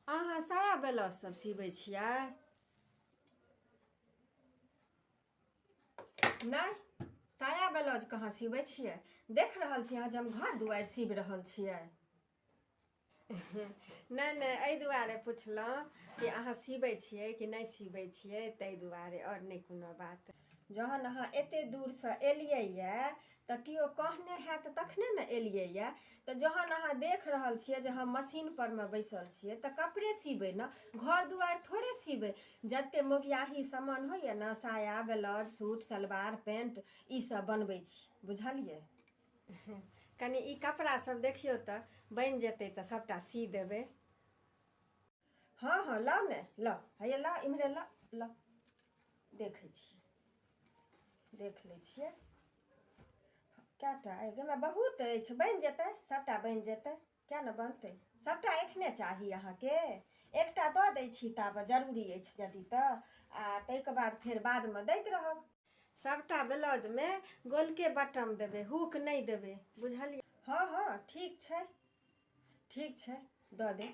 अहाँ साया ब्लाउज सब सिबै छियै नहि साया ब्लाउज कहाँ सिबै छियै देख रहल छियै अहाँ जे हम घर दुआरि सीब रहल छियै नहि नहि एहि दुआरे पुछलहुँ कि अहाँ सिबै छियै कि नहि सिबै छियै ताहि दुआरे आओर नहि कोनो बात जहन अहाँ एते दूरसँ एलियै यऽ तऽ केओ कहने हैत तखने ने एलियैए तऽ जहन अहाँ देख रहल छियै जे हम मशीनपर मे बैसल छियै तऽ कपड़े सीबै ने घर दुआरि थोड़े सीबै जतेक मोगियाही सामान होइए ने साया ब्लाउज सूट सलवार पेंट ईसभ बनबै छी बुझलियै कनि ई कपड़ासभ देखियौ तऽ बनि जेतै तऽ सभटा सी देबै हँ हँ ला ने ला हैया ला इम्हरे ला ला देखै छियै देख लै छियै कए टा एहिमे बहुत अछि बनि जेतै सभटा बनि जेतै किए ने बनतै सभटा एखने चाही अहाँके एकटा दऽ दै छी ताबे जरूरी अछि यदि तऽ आ ताहिके बाद फेर बादमे दैत रहब सभटा ब्लाउजमे गोलके बटम देबै हुक नहि देबै बुझलियै हँ हँ ठीक छै ठीक छै दऽ दे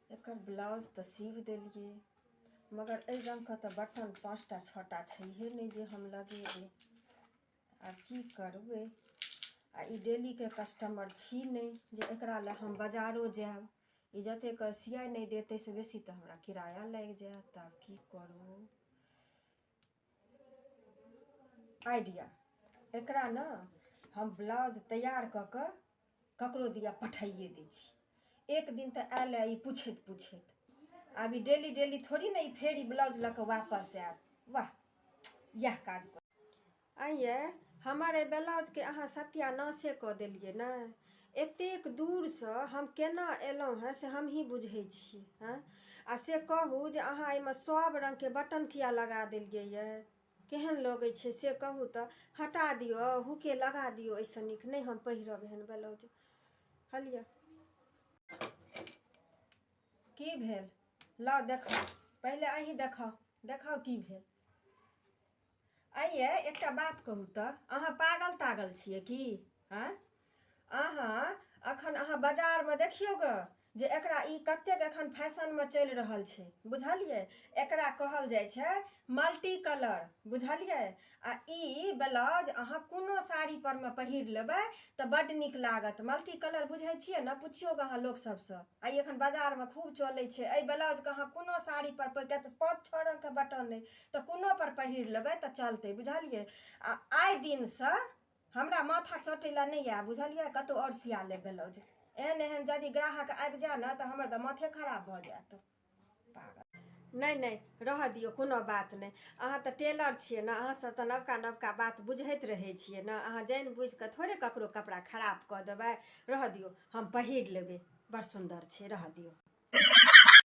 एकर ब्लाउज तऽ सीब देलियै मगर एहि रङ्गके तऽ बटन पाँचटा छओटा छैहे नहि जे हम लगेबै आब की करबै आ ई डेलीके कस्टमर छी नहि जे एकरा लए हम बाजारो जायब ई जतेक सियाइ नहि देत ताहिसँ बेसी तऽ हमरा किराया लागि जायत तऽ आब की करू आइडिया एकरा ने हम ब्लाउज तैयार कऽ कऽ ककरो दिया पठाइए दै छी एक दिन तऽ आयल ई पूछैत पूछैत आब ई डेली डेली थोड़ी ने ई फेर ई ब्लाउज लऽ कऽ वापस आयत वाह इएह काज कर आइए हमर एहि ब्लाउजके अहाँ सत्यानाशे कऽ देलियै ने एतेक दूरसँ हम केना एलहुँ हँ से हमही बुझैत छी हँ आ से कहू जे अहाँ एहिमे सभ रङ्गके बटन किया लगा देलियै यऽ केहन लगैत छै से कहू तऽ हटा दियौ हुके लगा दियौ एहिसँ नीक नहि हम पहिरब एहन ब्लाउज हलियै की भेल ला देखाउ पहिले अहीं देखाउ देखाउ की भेल आइए एकटा बात कहू तऽ अहाँ पागल तागल छियै की आँय अहाँ अखन अहाँ बाजारमे देखियौ ग जे एकरा ई कतेक एखन फैशनमे चलि रहल छै बुझलियै एकरा कहल जाइ छै मल्टी कलर बुझलियै आ ई ब्लाउज अहाँ कोनो साड़ी परमे पहिर लेबै तऽ बड्ड नीक लागत मल्टी कलर बुझै छियै ने पुछियौ अहाँ लोक सबसँ आइ एखन बाजारमे खूब चलै छै एहि ब्लाउजके अहाँ कोनो साड़ी पर पाँच छओ रंगके बटन अइ तऽ कोनोपर पहिर लेबै तऽ चलतै बुझलियै आ आइ दिनसँ हमरा माथा चटै लए नहि आए बुझलियै कतहु आओर सिया लेब ब्लाउज एहन एहन यदि ग्राहक आबि जाए ने तऽ हमर तऽ माथे खराब भऽ जायत नहि नहि रहऽ दियौ कोनो बात नहि अहाँ तऽ टेलर छियै ने अहाँसभ तऽ नवका नवका बात बुझैत रहै छियै ने अहाँ जानि बुझि कऽ थोड़े ककरो कपड़ा खराब कऽ देबै रहऽ दियौ हम पहिर लेबै बड़ सुन्दर छै रहऽ दियौ